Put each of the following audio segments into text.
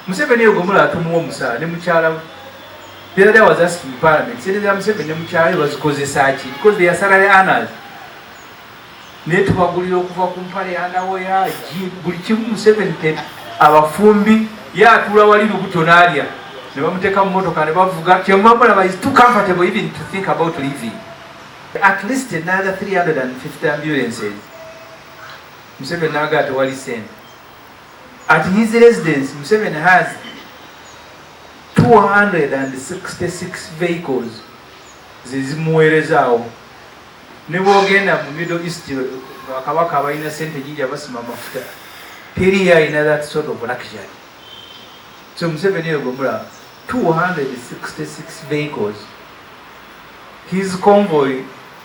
Museveni eyo gomula atumuwa omusaala ne mukyala we. The other day I was asking in parliament, sente za Museveni ne mukyala we bazikozesa ki? Because they are salary earners. Naye tubagulira okuva ku mpale ya nawoya ji buli kimu Museveni te abafumbi ye atuula wali lubuto n'alya ne bamuteeka mu motoka ne bavuga kyemuma mulaba is too comfortable even to think about living at least another 350 ambulances Museveni n'agaa tewali sente At his residence, Museveni has 266 vehicles zezimuweerezaawo ne bwogenda mu middle east bakabaka abalina sente nyingi abasima amafuta teri yalina that sort of luxury so museveni eyo gwemula 266 vehicles his convoy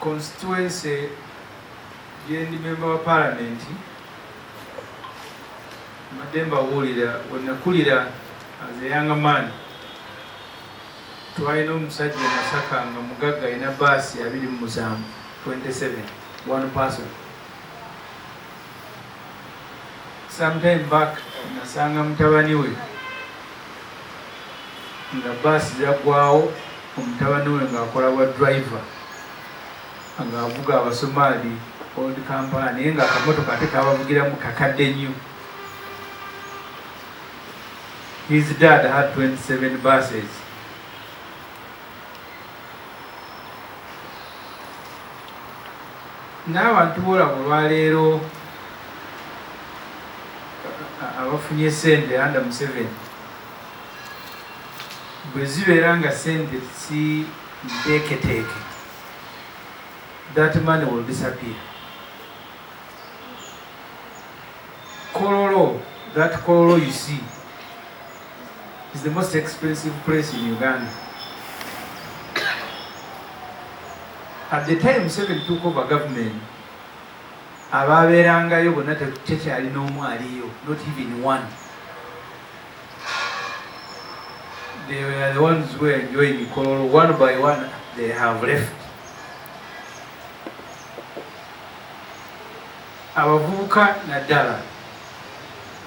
constituency gyendi memba wa palamenti mbadde mbabuulira wenakulira as a young man twalina omusajja masaka nga mugagga alina baasi abiri mu musanvu 27 one person sometime back nasanga mutabani we nga baasi zaggwawo omutabani we ng'akola bwa driver ng'avuga abasomaali old kampala naye nga akamotoka ate kabavugiramu kakadde nnyo his dad had 27 buses n'abantu boolaba olwaleero abafunye sente anda museveni bwe zibeera nga sente si nteeketeeke that money will disappear kololo that kololo you see is the most expensive place in Uganda. At the time Museveni took over government, abaabeerangayo bonna tekyali n'omu aliyo, not even one. They were the ones who were enjoying Kololo. One by one, they have left. abavubuka naddala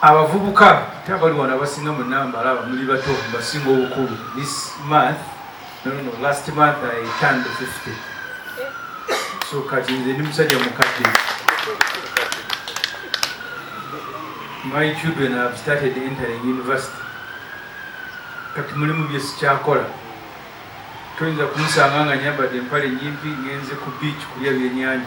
abavubuka te abali wano abasinga mu namba alaba muli bato basinga obukulu this month no, no, no, last month i turned 50 so kati nze ndi musajja mukadde my children have started entering university kati mulimu byesikyakola toyinza kumusanga nga nyambadde empale nyimpi ngenze ku beach kulya byenyanja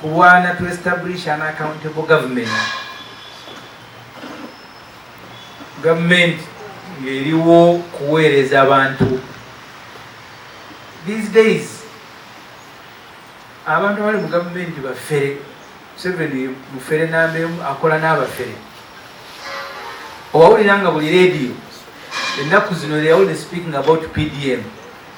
kulwana to establish an accountable government government ngeriwo kuweereza abantu these days abantu abali mu gavumenti bafere museveni mufere namba emu akola n'abafere owawulira nga buli rediyo ennaku zino leyawulire speaking about pdm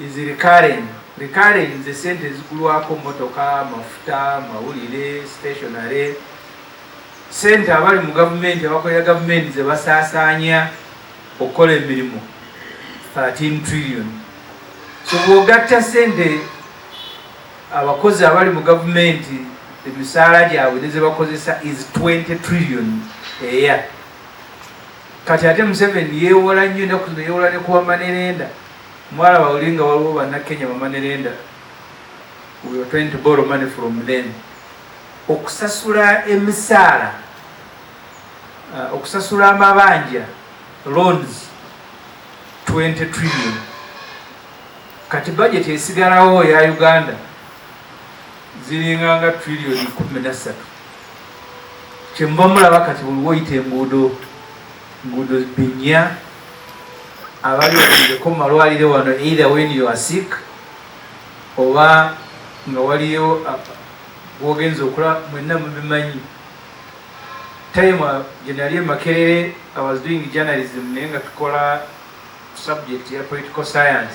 is recurring. Recurring ze sente ezigulwako motoka, mafuta, mawulire, stationary sente abali mu gavumenti abakolera gavumenti ze basaasaanya okukola emirimu 13 trillion so bwogatta sente abakozi abali mu gavumenti emisaala gyabwe nezebakozesa is 20 trillion eya kati ate museveni yewola nnyo enaku zino yewola nekuwamanerenda Mwala bawuli nga waliwo banna Kenya bamanerenda we were trying to borrow money from them okusasula emisaala uh, okusasula amabanja loans 20 trillion kati budget esigalawo ya Uganda ziringa nga trillion kumi na ssatu kyemba mulaba kati buli woyita enguudo Gudu dunya abali okujeko mu malwaliro wano either when you are sick oba nga waliyo wogenza okula mwenna mubimanyi time gyenali emakerere i was doing journalism naye nga tukola subject ya political science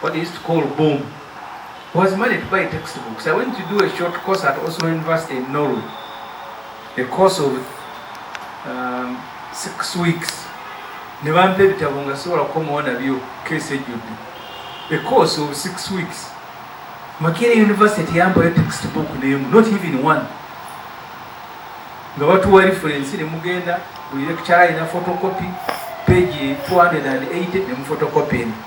what they used to call boom was money to buy textbooks. I went to do a short course at Oslo University in Norway, a course of um, six weeks. ne bampa ebitabo nga sobola kukomawo nabyo keesi ejjudde a course of six weeks makere university yampayo textbook nemu not even one nga batuwa reference ne mugenda buli lecture alina photocopy page 280 ne mu photocopy eno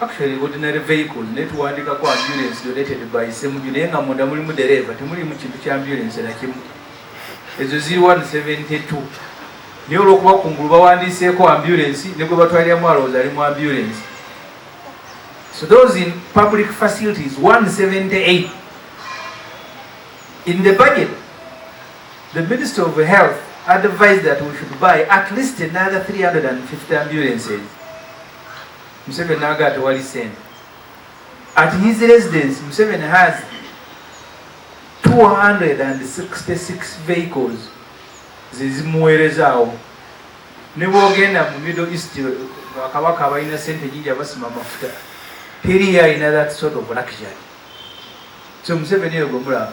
Actually ordinary vehicle naye tuwandikako ambulance donated by Ssemuju naye nga munda mulimu dereeva temulimu kintu kya ambulance nakimu ezo ziri 172 naye olwokuba kungulu bawandiiseeko ambulance ne gwe batwaliramu alowooza ali mu ambulance so those in public facilities 178 in the budget the minister of health advised that we should buy at least another 350 ambulances Museveni naga tewali sente at his residence Museveni has 266 vehicles zezimuweerezaawo nebwogenda mu middle east bakabaka abalina sente nyingi abasima amafuta teri yalina that sort of luxury so Museveni eyo gwemulaba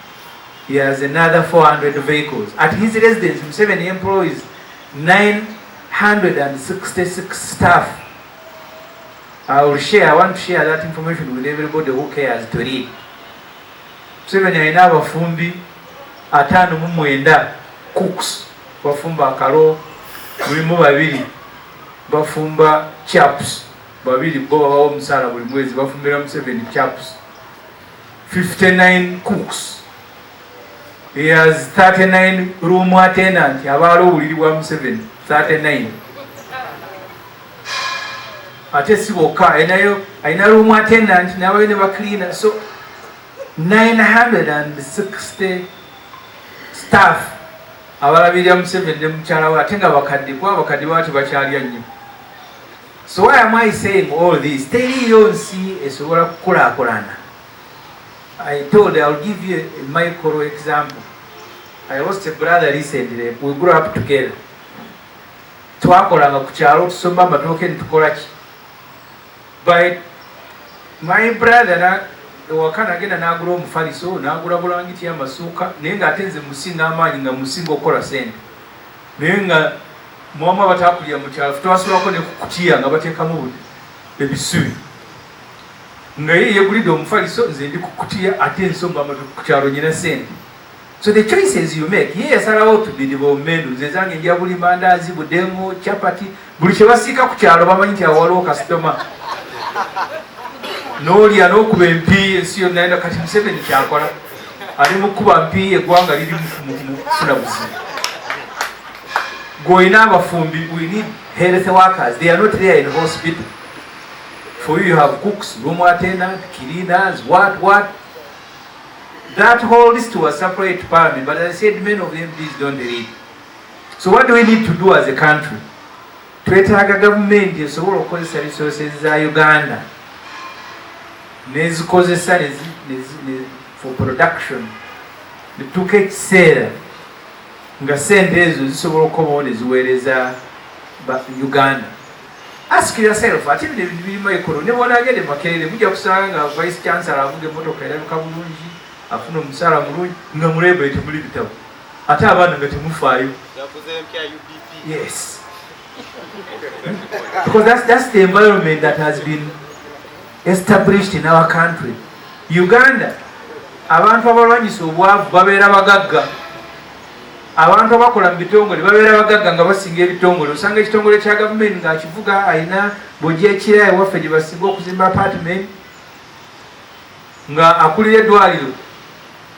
He has another 400 vehicles. At his residence, Museveni employs 966 staff. I will share, I want to share that information with everybody who cares to read. Museveni alina abafumbi ataano mu mwenda cooks bafumba akalo mulimu babiri bafumba chaps babiri bo babawo omusaala buli mwezi bafumbira Museveni chaps 59 cooks as 39 room attendant abaala obuliri bwa museveni 39 ate si bokka alinayo alina room attendant nabayo ne bacleana so 960 staff abalabirira museveni ne mukyala we ate nga bakadde kuba abakadde baba tebakyalya nnyo So why am I saying all this? Teriyo nsi esobola kukulakulana. I told you, I'll give you a micro example. I lost a brother recently. We grew up together. Twakolanga ku kyalo tusomba amatooke nitukola ki? By my brother na ewaka nagenda n'agula omufaliso n'agula bulangiti amasuuka naye ng'ate nze musinga amaanyi nga musinga okukola sente. naye nga mwamu abatakulira mukyalo twasulako ne kukutiya nga bateekamu ebisubi nga ye yegulidde omufaliso nze ndi kukutiya ate ensomba matu kukyalo nyina sente so the choices you make ye yasalawo tubiri bomenu nze zange nja buli mandaazi budemu chapati buli kyebasiika ku kyalo bamanyi nti awo waliwo kasitoma nolya nokuba empi ensi yonna enda kati museveni kyakola ali mukuba mpi egwanga liri mufuna buzibu gweolina abafumbi we need health workers they are not there in hospital for you you have cooks room attendant cleaners what what that whole list was supplied to parliament but i said many of them please don't read so what do we need to do as a country twetaaga gavumenti esobola okukozesa resources za uganda nezikozesa for production netuuka ekiseera nga sente ezo zisobola okukomawo neziweereza uganda ask yourself ate bino ebintu birima ekolo ne bwonagende makerere mujja kusanga nga vice chancellor avuga emotoka erabika bulungi afuna omusaala mulungi nga mulebwe temuli bitabo Ate abaana nga temufaayo. Yes. Because that's, that's the environment that has been established in our country. Uganda, abantu abalwanyisa obwavu babeera bagagga. Abantu abakola mu bitongole babeera bagagga nga basinga ebitongole. Osanga ekitongole kya gavumenti ng'akivuga alina bojja ekira ewaffe gye basinga okuzimba apartment. Nga akulira edwaliro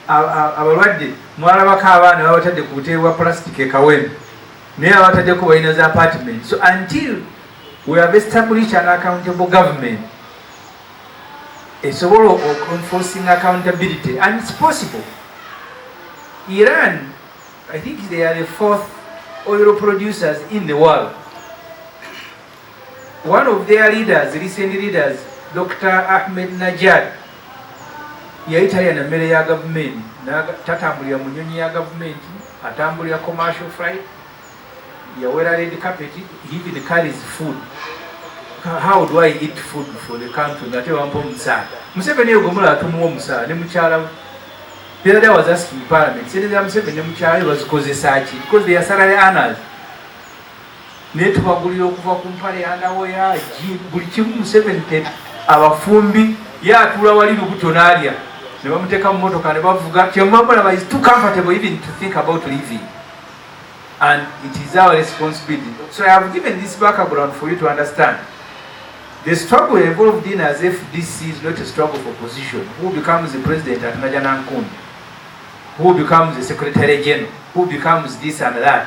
abalwadde mwalabako abaana babatadde ku butebe bwa plastic e Kawempe naye abataddeko balina za apartment so until we have established an accountable government esobola enforcing accountability and it's possible Iran I think they are the fourth oil producers in the world One of their leaders, recent leaders, Dr. Ahmed Najad yali talya na mmere ya gavumenti, tatambulira mu nyonyi ya gavumenti, atambulira commercial flight, yawera red carpet, he even carries food. How do I eat food for the country? Ngate wampa omusaala. Museveni oyo gomula atumuwa omusaala ne mukyala we. The other day I was asking parliament, sente za Museveni ne mukyala we bazikozesa ki? Because they are salary earners. naye tubagulira okuva ku mpale yandawo ya buli kimu museveni te abafumbi ye atuula wali lubuto naalya ne bamuteeka mu motoka ne bavuga kyemubamulaba is too comfortable even to think about living and it is our responsibility so i have given this background for you to understand the struggle involved in as if this is not a struggle for position who becomes the president at najanankumbi who becomes the secretary general who becomes this and that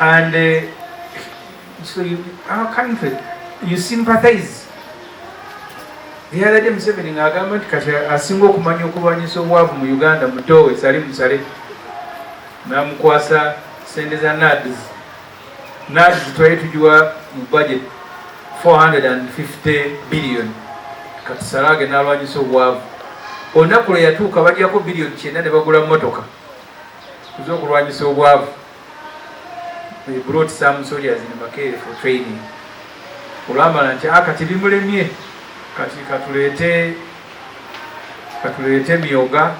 and uh, so you, our country you sympathize the other day Museveni ng'agamba nti kati asinga okumanya okulwanyisa obwavu mu Uganda mutoowe sali musale namukwasa sente za nads nads twali tugiwa mu budget 450 billion kati salage nalwanyisa obwavu olunaku lwe yatuuka bajjako billion kyenda ne bagula motoka tuze okulwanyisa obwavu we brought some soldiers in Makerere for training olwamala nti ah, kati bimulemye kati katuleete katuleete myoga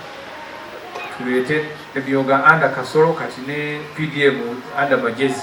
tuleete emyoga anda kasolo kati ne pdm anda majezi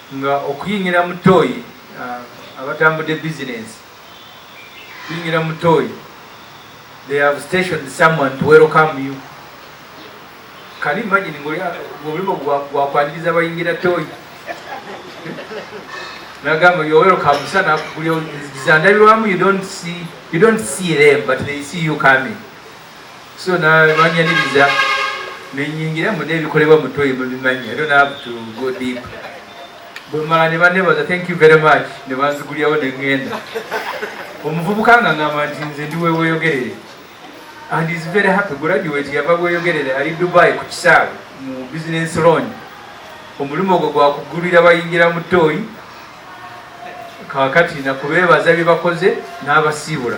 nga okuyingira mu tooyi abatambudde bizinensi kuyingira mu tooyi they have stationed someone to welcome you can you imagine ngolimo gwakwaniriza bayingira tooyi nagamba you're welcome sa nakugulya zandabirwamu you don't see you don't see them but they see you coming so nabanyaniriza nenyingira mune ebikolebwa mutoyi mubimanyi i don't have to go deep bwemala nebanebaza thank you very much nebanzigulyawo nengenda omuvubuka nga ngamba nti nze ndi weweyogerere and is very happy graduate yava weyogerere ali dubai ku kisaawe mu business loan omulimu ogwo gwakugulira bayingira mu tooyi kakati nakubeebaza byebakoze n'abasiibula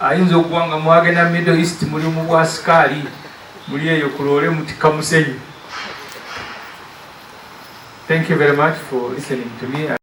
ayinza okuba nga mwagenda middle east muli mu bwasikaali muli eyo kuloole mutikka musenyu thank you very much for listening to me